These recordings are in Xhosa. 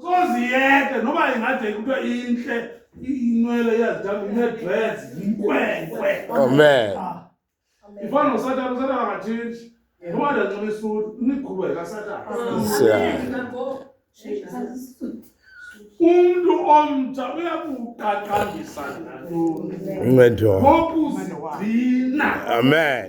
kozi yeke noba ingade kuthiwa intle inwele iyazithanda unedress yinkwenkwe amen ifana nosatana usatana angatshintshi noba ndancoba isuti imigquba yikasatana umntu omtsha uyakuqaqambisa ngokuzigcina amen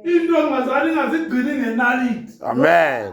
into engazali ingazigcini ngenaliti amen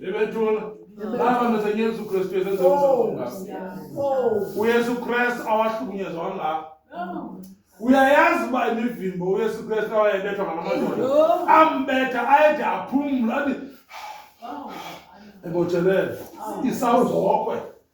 Ivetula. Baba meza Yesu Kristu yesenza umsebenzi womkakho. UYesu Kristu awahlukunyezwa kangaka. Uyayazi uba imivimbo uYesu Kristu awayebethwa ngamadoda. Ambetha ayede aphumle athi ebotshelele isawuzokwe.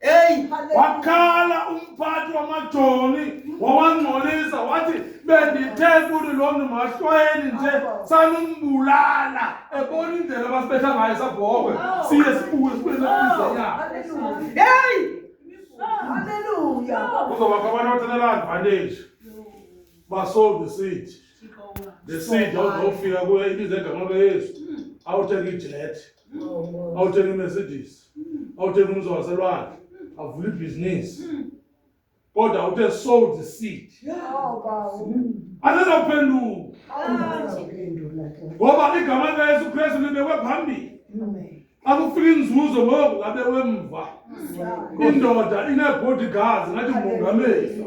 Hey, wakhala umphathi wamajoni wawangcolisa wathi bendithe kuthi loo mntu mahlwayeni nje sanumbulala ebona indlela abasibetha ngayo sabhokwe siye sibuye sibuye naizanyana heyi kuzobakho abantu abathathela advantage basold the seed the seed awuzofika kuye ibiza egama kayesu awuthenga ijethi awuthenga imercedes awuthenga umzi waselwandle avula ibhizinisi kodwa uthe sold the seed anazawuphenduka ngoba igama likayesu kristu libekwe phambili xa kufika inzuzo ngoku ngabe wemva indoda inee-bodyguards ngathi mongameli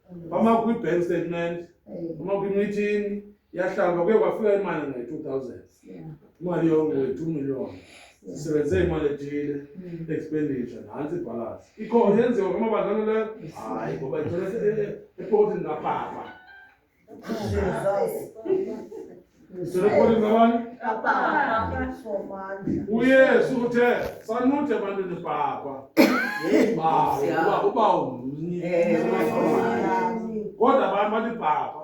bama kwi-bank statement bama kwi-meeting yahlamba kuye kwafika imali nge-two thousand imali yonke we-two million sisebenze imali ethile hmm. expenditure nantsi ibhalansi ikhona yenziwa kumabazana leyo hayi ngoba ithole epokotini kapapa Sirikuli ngawani? UYesu uthe sanude ebantwini bhakwa. Bawo, uba uba umnye. Kodwa abantu bathi bhakwa.